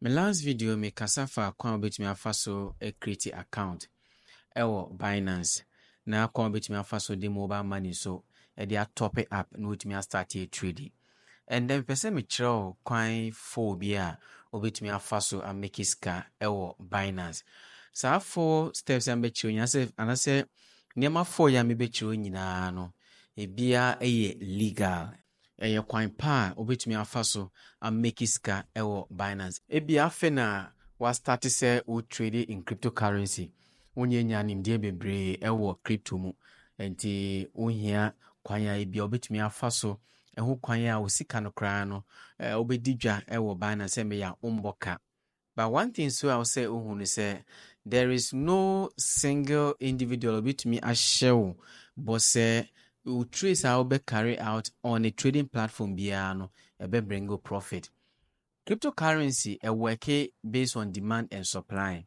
Me last video me kasa faa kwan a wobɛtumi afa so a create account wɔ Binance na kwan a wobɛtumi afa so de mobile money nso de a top up na wotumi a start a trade. Ɛndɛ mepɛ sɛ me kyerɛ wo kwan four bi a wobɛtumi afa so a make sika wɔ Binance. Saa four steps a mebɛkyerɛ wo nyinaa anasɛ nneɛma four yi a mebɛkyerɛ wo nyinaa no ebiara yɛ legal. Ɛyɛ kwan pa a wobɛtumi afa so a make sika wɔ Binance. Ebia afei na wa start sɛ wo trade in crypto currency, wo nyɛ nya nimdeɛ bebree wɔ crypto mu, nti wo hia kwan a ebia wobɛtumi afa so ɛho kwan a wo sika no koraa no wobɛdi dwa wɔ Binance sɛ meyɛ a wombɔ ka. But one thing so a wo sɛ ohu no sɛ there is no single individual obetumi ahyɛ wo bɔ sɛ wo trace a wobɛ carry out on a trading platform biara no ɛbɛ bring you profit. Cryptocurrency ɛwɔke based on demand and supply.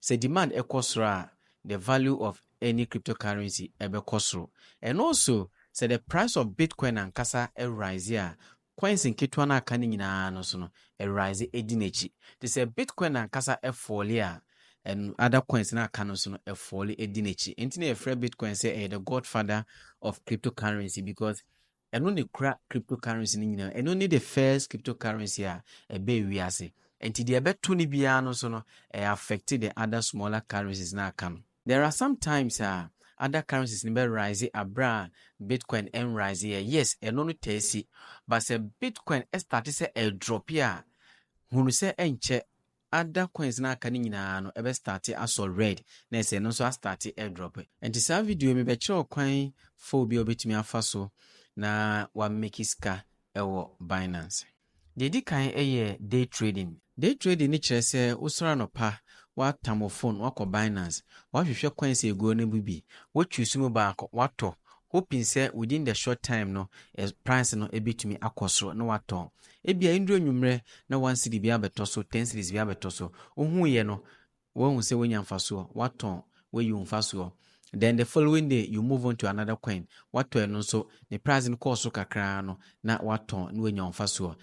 Sɛ demand ɛkɔ soro a the value of any cryptocurrency ɛbɛkɔ soro and also sɛ the price of Bitcoin ankasa ɛrise a Coins nketewa no a aka no nyinaa no so no, Awuradze dzi n'ekyir. Ntsi sɛ Bitcoin nankasa fɔɔle a, ɛn other coins no a aka no so no, ɛfɔɔle dzi n'ekyir. Ntsi na yɛfrɛ Bitcoin sɛ ɛyɛ the Godfather of Cryptocurrency because ɛno na ekura cryptocurrency no nyina. Ɛno ne the first cryptocurrency a ɛbaa wiase. Ntsi deɛ ɛbɛto no biara no so no, ɛyɛ affect the other smaller currencies no a aka no. There are some times a other currencies no bɛ rise aberɛ a Bitcoin nrise yɛ, yes ɛno no taa si but sɛ Bitcoin starte sɛ ɛredrope a hunu sɛ ɛnkyɛ other coins no aka no nyinaa no ɛbɛ starte asɔ red na ɛsɛ ɛno nso astarte ɛredrope. Nti saa video yi mebɛkyerɛ wo kwan four bi a wobɛtumi afa so na wamake sika wɔ Binance. Deɛ ɛdi kan yɛ day trading. Day trading no kyerɛ sɛ wosɔre anɔpa, woatam wo phone, woakɔ Binance, woahwehwɛ coins a ɛguo no mu bi, wo choose mu baako, woatɔ, hoping sɛ within the short time no price no bɛtumi akɔ soro na woatɔn. Ebia ɛnnuru anwummerɛ na one cedi biara abɛtɔ so, ten cedis biara abɛtɔ so. Wohuiɛ no, Woahu sɛ woanya mfasoɔ, woatɔn, woayi wo mfasoɔ. Then the following day you move on to another coin, woatɔ ɛno nso, ne price no kɔɔ soro kakra ara no na woatɔn na woanya wo mfasoɔ.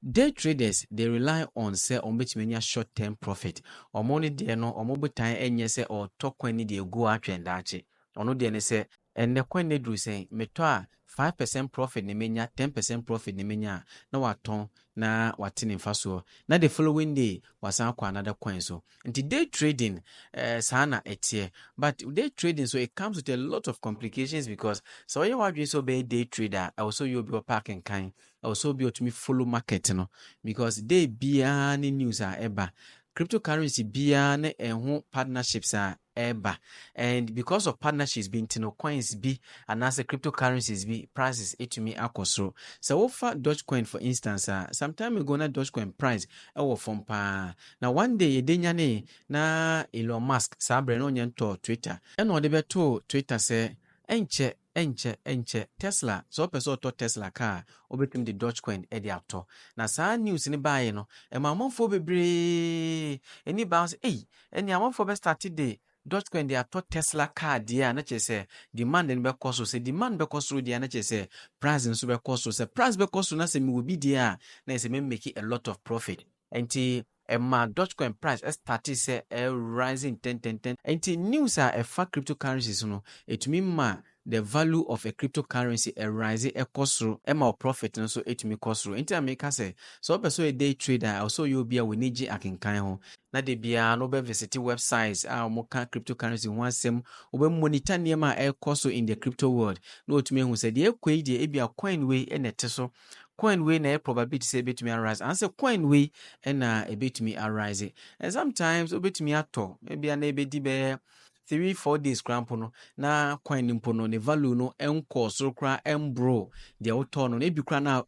Day traders they rely on sɛ wɔbɛtumi anya short term profit. Wɔn no deɛ no wɔn botaeɛ nyɛ sɛ wɔretɔ coin no de agu hɔ atwɛn daakye. Ɔno deɛ ne sɛ. Ɛnnɛ kwan no aduru sɛn? Metɔ a, five percent profit na menya, ten percent profit na menya a, na watɔn na wate ne mfasoɔ. Na the following day, wasan akɔ another coin so. Nti day trading, eh, saa na ɛteɛ. But day trading nso, it comes with a lot of complications because sɛ woayɛ w'adwene sɛ wobɛyɛ day trader a, ɛwɔ sɛ woyɛ obi a ɔpɛ akenkan, ɛwɔ sɛ obi a ɔtumi follow market no because day biara ne news a ɛba. Cryptocurrency biara ne ɛho partnerships a ɛreba and because of partnerships bi nti no coins bi anaasɛ cryptocurrencies bi prices etumi akɔ soro. Sɛ wofa Dogecoin for instance a, some time ago na Dogecoin price ɛwɔ fam paa na one day yɛde nyanee na Elon Musk saa berɛ no ɔnyɛ ntɔɔ Twitter, ɛna ɔde bɛtoo Twitter sɛ ɛnkyɛ Ɛnkyɛ, ɛnkyɛ, Tesla, sɛ ɔpɛ sɛ ɔtɔ Tesla car a, obetumi de Dogecoin de atɔ. Na saa news no baeɛ no, ɛmaa amanfoɔ bebree ani baa ho sɛ, Ei, ɛnneɛ amanfoɔ bɛstarte de Dogecoin de atɔ Tesla car deɛ a, na kyerɛ sɛ demand no bɛkɔ soro. Sɛ demand bɛkɔ soro deɛ a, na kyerɛ sɛ price no nso bɛkɔ soro. Sɛ price bɛkɔ soro na sɛ mewɔ bi deɛ a, na ɛyɛ sɛ mɛmake a lot of profit. Ɛnti ɛmaa Dogecoin price ɛstartee sɛ ɛrising ntɛntɛntɛn. Ɛnti news a ɛfa cryptocurrencies no, ɛtumi ma the value of a cryptocurrency ɛrise ɛkɔ soro, ɛma wo profit no nso ɛtumi kɔ soro. Ɛnti na meka sɛ, sɛ wopɛ sɛ ɔyɛ day trader a, ɛwɔ sɛ ɔyɛ obi a w'ani gye akenkan ho, na da biara no wobɛ visite websites a wɔka cryptocurrency ho asɛm, wobɛ monitor nneɛma a ɛrekɔ so in the crypto world, na watumi ahu sɛ deɛ ɛrekɔ yi deɛ ebia coin wei na ɛte so, coin wei na ɛyɛ probability sɛ ebetumi arise anaasɛ coin wei na ebetumi arise and sometimes obetumi atɔ ebi a na ebedi bɛyɛ three four days koraa mpo no na coin no mpo no ne value no nkɔɔ soro koraa ɛmboro deɛ wotɔɔ no na ebi koraa na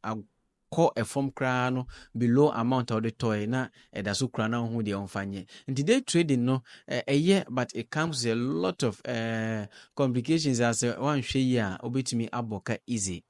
kɔ ɛfam koraa no below amount a wɔde tɔe na ɛda so koraa na wohu deɛ wɔmfa nyɛ nti day trading no ɛyɛ but it comes with a lot of uh, complications asɛ woanhwɛ yi a wobɛtumi abɔ ka easy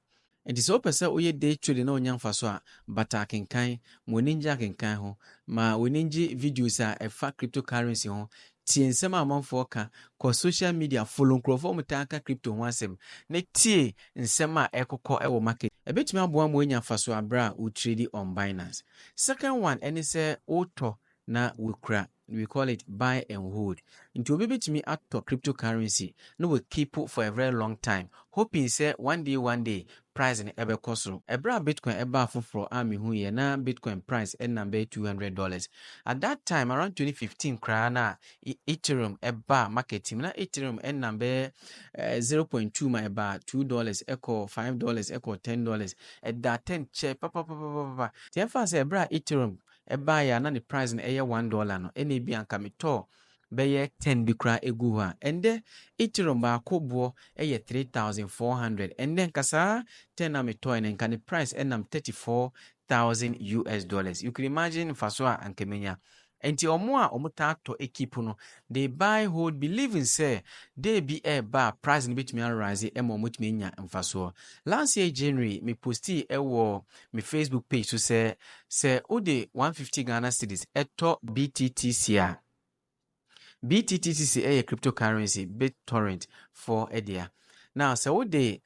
Enti sɛ wopɛ sɛ woyɛ day trading na wonya mfaso a, bata akenkan. Ma w'ani ngye akenkan ho. Ma w'ani ngye videos a ɛfa cryptocurrency ho. Tie nsɛm a amanfoɔ ka. Kɔ social media, follow nkurɔfoɔ a wɔtaa ka crypto ho asɛm, na tie nsɛm a ɛrekokɔ wɔ market. Ɛbɛtumi aboa ma woanya mfaso berɛ a wo trade on Binance. Second one ne sɛ wotɔ na woakura. We call it buy and hold. Nti obi betumi atɔ crypto currency na wa keep for a very long time hoping sɛ one day one day price no ɛbɛkɔ soro. Ɛberɛ a Bitcoin ɛbaa foforɔ a me huiɛ na Bitcoin price ɛnam bɛyɛ two hundred dollars. At that time around twenty fifteen koraa na Ethereum ɛbaa market mu na Ethereum ɛnam bɛyɛ eh, zero point two ma ɛbaa two dollars ɛkɔɔ five dollars ɛkɔɔ ten dollars ɛdaa ten kyɛ papapapapapa. Nti ɛmfa sɛ ɛberɛ a Ethereum ɛbaeɛ a na ne price no yɛ one dollar no ɛna ebi a nka metɔ bɛyɛ ten bi koraa egu hɔ a ɛndɛ ethereum baako boɔ yɛ three thousand four hundred ɛndɛ nka saa ten na metɔɛ no nka ne price ɛnam thirty four thousand us dollars you can imagine nfaso a anka menya nti ɔmo a ɔmo taa tɔ ekip no they buy hold believing sɛ day bi ɛɛba a price no betumi arise ɛma ɔmo tumi anya nfasoɔ last year january me postii ɛwɔ me Facebook page so sɛ, sɛ wode 150 Ghana cedis tɔ BTTC a, BTTC yɛ cryptocurrency BitTorrent for dea. Now sɛ wode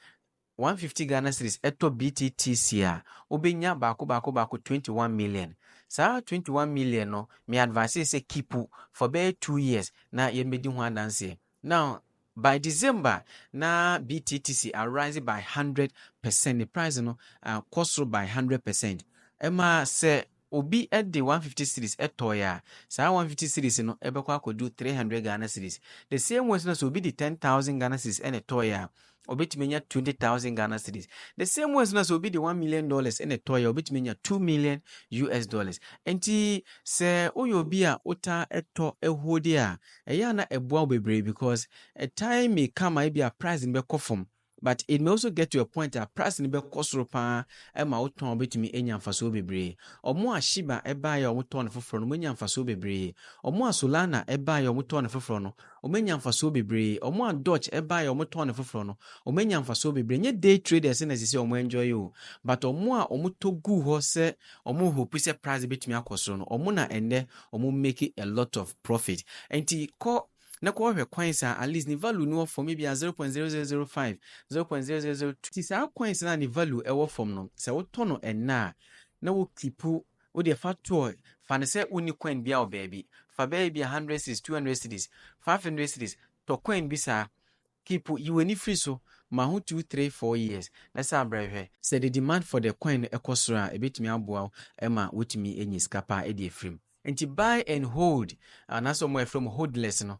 150 Ghana cedis tɔ BTTC a, wobɛnya baako baako baako 21 million. Saa 21 million no, me advise sɛ keep for bɛyɛ two years na yɛmmɛdi ho adanseɛ. Now by December na BTTC arise by hundred percent ne price no kɔ soro by hundred percent ɛma sɛ obi de one fifty series tɔɔe a saa one fifty series no ɛbɛkɔ akɔdu three hundred Ghana series the same way nso na sɛ obi de ten thousand Ghana series ɛna tɔɔe a obetumi anya twenty thousand ghana cedis the same way nso na sɛ obi de one million dollars ɛna ɛtɔ yɛ obetumi anya two million us dollars nti sɛ woyɛ obi a wota ɛtɔ ɛhuo de a ɛyɛ ana ɛboa wo bebree because a time may come a ebi a price no bɛkɔ fam but it may also get to a point a price no bɛkɔ soro paa ɛma wotɔn a wobɛtumi anya mfasoɔ bebree ɔmo a shiba ɛbaeɛ a wɔtɔn no foforɔ no wɔanya mfasoɔ bebree ɔmo a solana ɛbaeɛ a wɔtɔn no foforɔ no Wɔanya mfasoɔ bebree. Wɔn a Dutch baeɛ a wɔtɔn no foforɔ no, wɔanya mfasoɔ bebree. Ɛnyɛ day traders na ɛsɛ sɛ wɔn enjoy o, but wɔn a wɔtɔ guu hɔ sɛ wɔn hope sɛ price bɛtumi akɔ soro no, wɔn na ɛnnɛ wɔn make a lot of profit. Nti kɔ na kɔhwɛ coins a at least ne value no wɔ fam, ebia zero point zero zero zero five, zero point zero zero zero two. Nti saa coins no a ne value wɔ fam no, sɛ wotɔ no ɛnnɛ a, na wo keep Wo deɛ fa to hɔ, fa no sɛ wonni coin biara wɔ baabi. Fa bɛyɛ ebia hundred cedis, two hundred cedis, five hundred cedis, tɔ coin bi saa. Keep, yi w'ani firi so, ma ho two, three, four years na san brɛ hwɛ. Sɛ the demand for the coin no kɔ soro a, ɛbɛtumi aboa wo ma woatumi anya sika paa de afiri mu. Enti buy and hold, anaasɛ wɔn a yɛfrɛ wɔn hodlers no,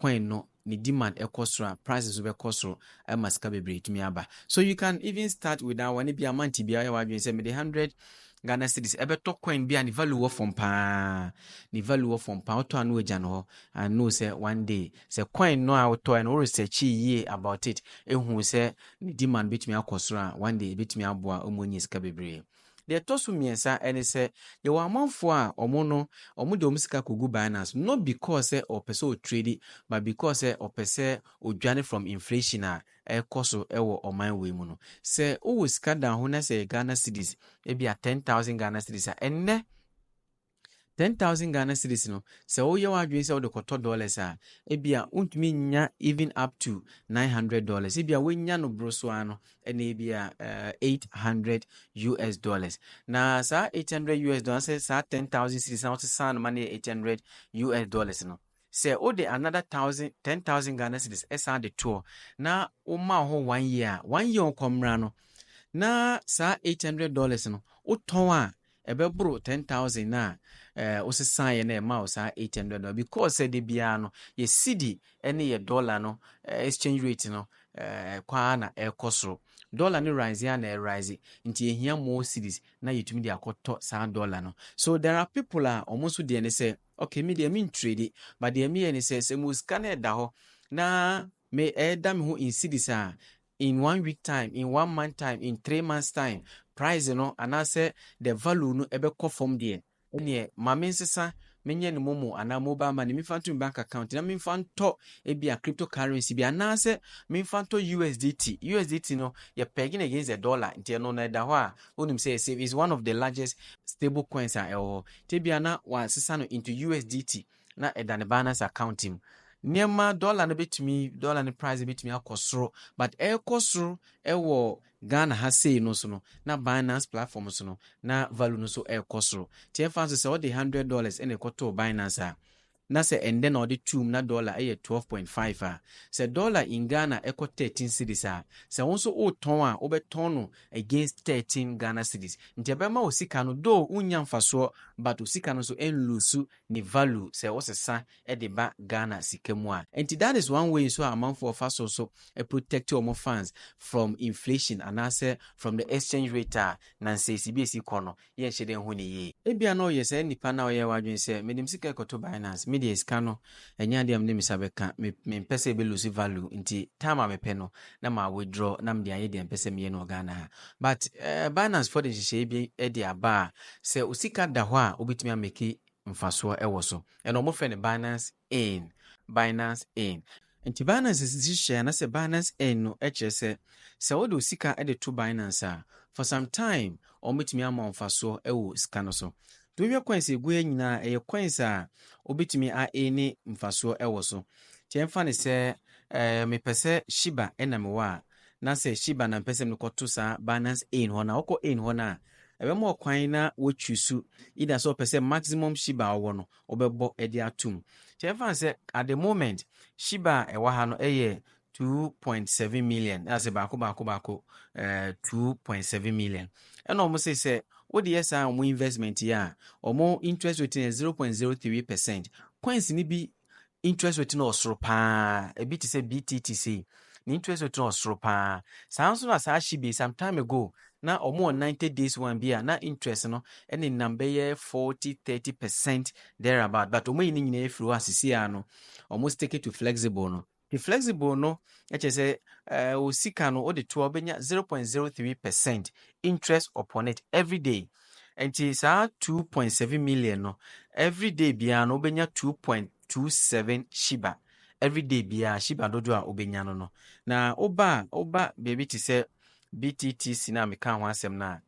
coin no ne demand ɛkɔ soro a price nso bɛkɔ soro ɛma sika bebree tumi aba so you can even start with that one bi amount bi a ɔyɛ wadwene sɛ mede hundred Ghana cities ɛbɛtɔ coin bi a ne value wɔ fam paa ne value wɔ fam paa wotɔ ano agya no hɔ and know sɛ one day sɛ coin no a wotɔ no wo research yie about it ehu sɛ ne demand betumi akɔ soro a one day ebetumi aboa ɔmo anya sika bebree. Deɛ ɛtɔ so mmiɛnsa ne sɛ, yɛwɔ amanfoɔ a wɔn no, wɔde wɔn sika kɔgu Binance, not because sɛ ɔpɛ sɛ ɔtredi, but because sɛ ɔpɛ sɛ ɔdwane from inflation a ɛrekɔ so wɔ ɔman wei mu no. Sɛ wowɔ sika da ho na sɛ ɛyɛ Ghana cedis, ebia ten thousand Ghana cedis a, ɛnnɛ, Ten thousand Ghana cedis no, sɛ woyɛ w'adwene sɛ wode kɔtɔ dollars a, ebia wontumi nnya even up to nine hundred dollars. Ebia woanya no boro so ara no, ɛna ebia eh, eight hundred US dollars. Na saa eight hundred US dollars, sɛ saa ten thousand cedis na wosesa no ma no yɛ eight hundred US dollars no, Sɛ wode another thousand, ten thousand Ghana cedis san de toɔ na woma hɔ one year a, one year ɔkɔmmra no, na saa eight hundred dollars no wotɔn a, ɛbɛboro ten thousand no a ɛɛ wosesaeɛ na ɛma wo saa eight hundred dollars because sɛ de biara no yɛ cedi ne yɛ dollar no eh, exchange rate no eh, ɛkɔ ara na ɛrekɔ soro. Dollar no rise a na ɛrise nti yɛhia more cedis na yɛtumi de akɔtɔ saa dollar no. So there are people a wɔn nso deɛ ne sɛ Okay me deɛ men trade but deɛ meyɛ ne sɛ sɛ mewɔ sika na ɛda hɔ na me ɛda me ho in cedis a in one week time in one month time in three months time price no anaasɛ the value no ɛbɛkɔ fam deɛ ɛneɛ ma me nsesa menyɛ ne momo anaa mobile money memfa nto me bank account na memfa ntɔ ebi a cryptocurrency bi anaasɛ memfa ntɔ USDT USDT no yɛ peg no against the dollar nti ɛno no ɛda hɔ a Wonim sɛ Save is one of the largest stable coins a ɛwɔ hɔ. Tebea na wɔasesa no into USDT na ɛda ne Binance account mu. Nneɛma, dɔla no betumi, dɔla no price betumi akɔ soro, but ɛrekɔ soro wɔ Ghana ha sei no nso no, na Binance platform so no, na value no nso rekɔ soro. Nti ɛmfa nso sɛ wode hundred dollars na ɛkɔtoo Binance a, na sɛ ɛndɛ na ɔde tuum na dɔla yɛ twelve point five a, sɛ dɔla in Ghana ɛkɔ thirteen cedis a, sɛ wo nso wotɔn a wobɛtɔn no against thirteen Ghana cedis nti ɛbɛma wo sika no though wonnya mfasoɔ but wo sika no nso ɛnluusu ne value sɛ wosesa de ba Ghana sika mu a. Nti that is one way nso a amanfoɔ fa so nso protect wɔn funds from inflation anaasɛ from the exchange rate a nansays bi ɛsi kɔ no. yɛnhyɛ da nhu no yie. Ebia na ɔyɛ saa nipa no a ɔyɛɛ w'adwene sɛ, mede me sika rekɔto Binance, me deɛ sika no, ɛnyɛ adeɛ a mede me nsa bɛka, me, mempɛ sɛ ɛbɛ lose value, nti time a mepɛ no, na ma withdraw na mede ayɛ deɛ mpɛ sɛ meyɛ no wɔ Ghana ha. But, eh, Binance foɔ de nhyehyɛeɛ bi de aba a, sɛ wo sika da hɔ a, wobɛtumi amake mfasoɔ wɔ so. Ɛno wɔfrɛ no Binance Ain, Binance Ain. Nti Binance si nhyehyɛɛ anasɛ Binance Ain no kyerɛ sɛ, sɛ wode wo sika de to Binance a, for some time wɔn bɛtumi ama wo mfasoɔ wɔ sika no so. Nti wohwɛ coins a ɛgu ha nyinaa ɛyɛ coins a wobɛtumi a aini mfasoɔ wɔ so. Nti ɛmfa no sɛ eh, mepɛ sɛ Shiba na mewɔ a, na sɛ Shiba na mpɛ sɛ mekɔto saa Binance Ain hɔ no a, wokɔ Ain hɔ no a, ɛbɛma ɔkwan na woatwi su either sɛ ɔpɛ sɛ maximum Shiba a ɔwɔ no wobɛbɔ de atom. Nti ɛmfa no sɛ at the moment Shiba a ɛwɔ ha no yɛ two point seven million, na sɛ baako baako baako ɛɛ eh, two point seven million. Ɛna wɔn sɛ sɛ wode yɛ saa wɔn investment yi a, wɔn interest rate no yɛ zero point zero three percent. Coins ni bi interest rate no wɔ soro paa ebi te sɛ btt sei ne interest rate no wɔ soro paa saa nso na saa hye bi some time ago na wɔn wɔ ninety days one bi a na interest no ɛne nam bɛyɛ forty thirty percent there about but wɔn ayi ne nyinaa efiri hɔ asisi a no wɔn stick to flexible no the flexible no ɛkyɛ sɛ ɛɛ o sika no o de to a wɔbɛnya zero point zero three percent interest upon it every day Nti saa two point seven million no every day biara no wobɛnya two point two seven shiba every day biara shiba dodoɔ a wobɛnya no no na woba a woba baabi te sɛ BTTC no a meka ho asɛm no a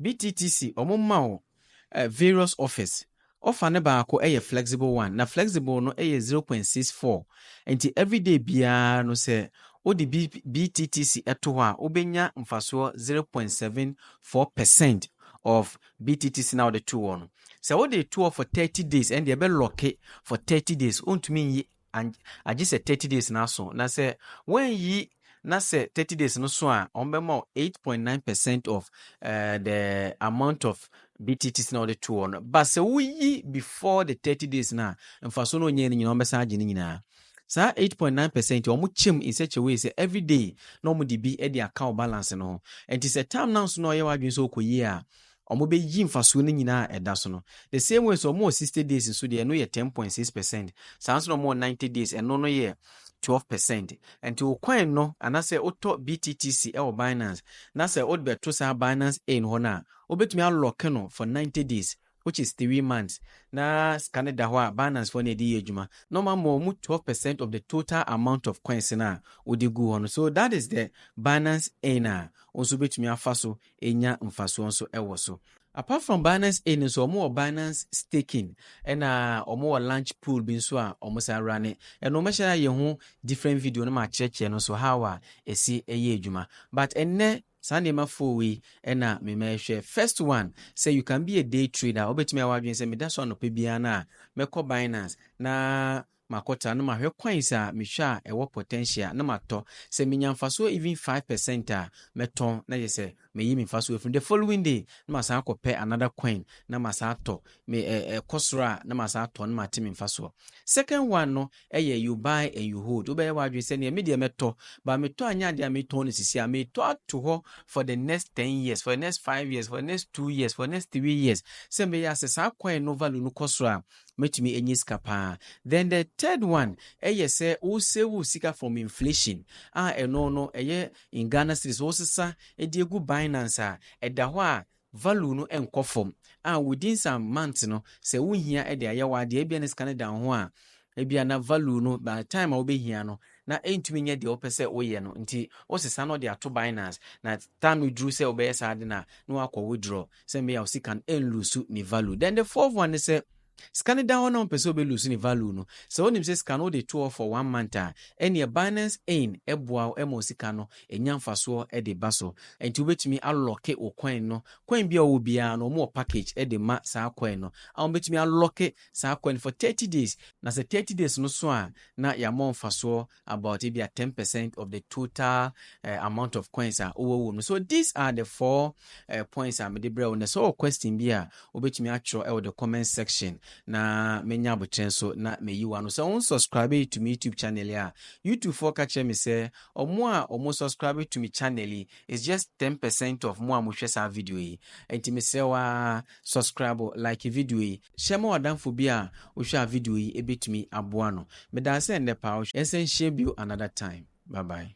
BTTC wɔn ma wo eh, various offers Ɔfa no baako yɛ flexible one na flexible no yɛ zero point six four nti everyday biara no sɛ wode BTTC to hɔ a wobɛnya mfasoɔ zero point seven four percent of BTTC na wode too hɔ no. Sɛ wode to hɔ for thirty days ɛnde ɛbɛ lɔke for thirty days wontumi nyi and agye sɛ thirty days no aso na sɛ wɔanyi na sɛ thirty days no so a wɔbɛma wo eight point nine percent of uh, the amount of BTTs na wɔde to hɔ no ba sɛ woyi before the thirty days no a mfaso no onyɛ no nyinaa wɔbɛsan agye no nyinaa saa 8.9 percent wɔn kyɛm in such a way sɛ every day na wɔn de bi de aka wɔ balance no ho nti sɛ term na nso na ɔyɛ wadwene sɛ ɔkɔ yie a wɔbɛyi mfasoɔ no nyinaa a ɛda so no. The same way sɛ wɔwɔ sixty days nso deɛ ɛno yɛ ten point six percent, saa ara nso na wɔwɔ ninety days ɛno no yɛ twelve percent. Nti wo coin no anaasɛ wotɔ BTTC wɔ Binance na sɛ wode bɛto saa Binance Ain hɔ no a, wobɛtumi a lock no for ninety days which is three months na sika no da hɔ a Binance foɔ na ɛde yɛ adwuma na wɔn ama wɔn twelve percent of the total amount of coins no a wode gu hɔ no. So that is the Binance Ain a wo nso wobɛtumi afa so nya mfasoɔ nso wɔ so. Apart from Binance Inn nso, wɔwɔ Binance Staking, ɛna wɔwɔ Launch Pool bi nso a wɔsan runne. Ɛno mɛhyɛ ayɛ ho different video na makyerɛkyerɛ no nso how a ɛsi yɛ adwuma. But ɛnnɛ, saa nneɛma four wei na memɛhwɛ. First one, sɛ you can be a day trader a, wobɛtumi ayɛ w'adwene sɛ meda so anɔpa biara no a, mɛkɔ Binance na makɔtra na mahwɛ kwan sɛ a mehwɛ a ɛwɔ potential a na matɔ sɛ menya mfasoɔ even five percent a mɛtɔn na yɛ sɛ mayi me mfasoɔ afiri the following day na masan akɔ pɛ another coin na masan atɔ me ɛ ɛ kɔ soro a na masan atɔ na mate me mfasoɔ second one no ɛyɛ you buy and you hold wobɛyɛ w'adwene sɛ neɛ me deɛ mɛtɔ ba metɔ anyɛ adeɛ a metɔn no sisi a metɔ ato hɔ for the next ten years for the next five years for the next two years for the next three years sɛ meyɛ asɛ saa coin no value no kɔ soro a Mɛtumi ɛnyɛ sika paa. Then the third one ɛyɛ sɛ wo save wo sika from inflation a ɛno no ɛyɛ in Ghana cedis wo sesa ɛde ɛgu Binance a ɛda hɔ a value no ɛnkɔ fam a within some months no sɛ wo hia ɛde ayɛ wo adeɛ ɛbia na sika no da wo ho a ɛbia na value no by the time a wo bɛ hia no na ɛntumi nyɛ deɛ wo pɛ sɛ wo yɛ no nti wo sesa no de ato Binance na time no duru sɛ wo bɛyɛ saa ade no a na wakɔ withdraw Sɛ meyɛ a wo sika no ɛnlusu ne value. Then the fourth one ne sɛ, sika no da hɔ na wompɛ sɛ wobɛlusu ne value no, sɛ wonim sɛ sika no wode to hɔ for one month a, ɛnneɛ Binance Ain boa wo ma wo sika no nya mfasoɔ de ba so. Nti wobɛtumi alɔke wo coin no. Coin biara a wowɔ biara no, wɔwɔ package de ma saa coin no. A Wobɛtumi alɔke saa coin no for thirty days. Na sɛ thirty days no so a, na yɛama wo mfasoɔ about ebia ten percent of the total uh, amount of coins a wowɔ wɔ mu so these are the four uh, points a mede brɛ wo na sɛ wɔ question bi a wobɛtumi atwerɛ ɛwɔ the comment section na menya abokyerɛ nso na meyi wa no sɛ wo subscribe yi to me youtube channel a youtube foɔ ka kyerɛ me sɛ ɔmo a ɔmo subscribe to me channel yi is just ten percent of mo a mohwɛ saa video yi nti mesrɛ wa subscribe like video yi Hyɛ ma w'adamfo bi a ohwɛ a video yi ebetumi aboa no. Medase ndɛ paa wohwɛ. Yɛnsan nhyia bio another time. Bye bye.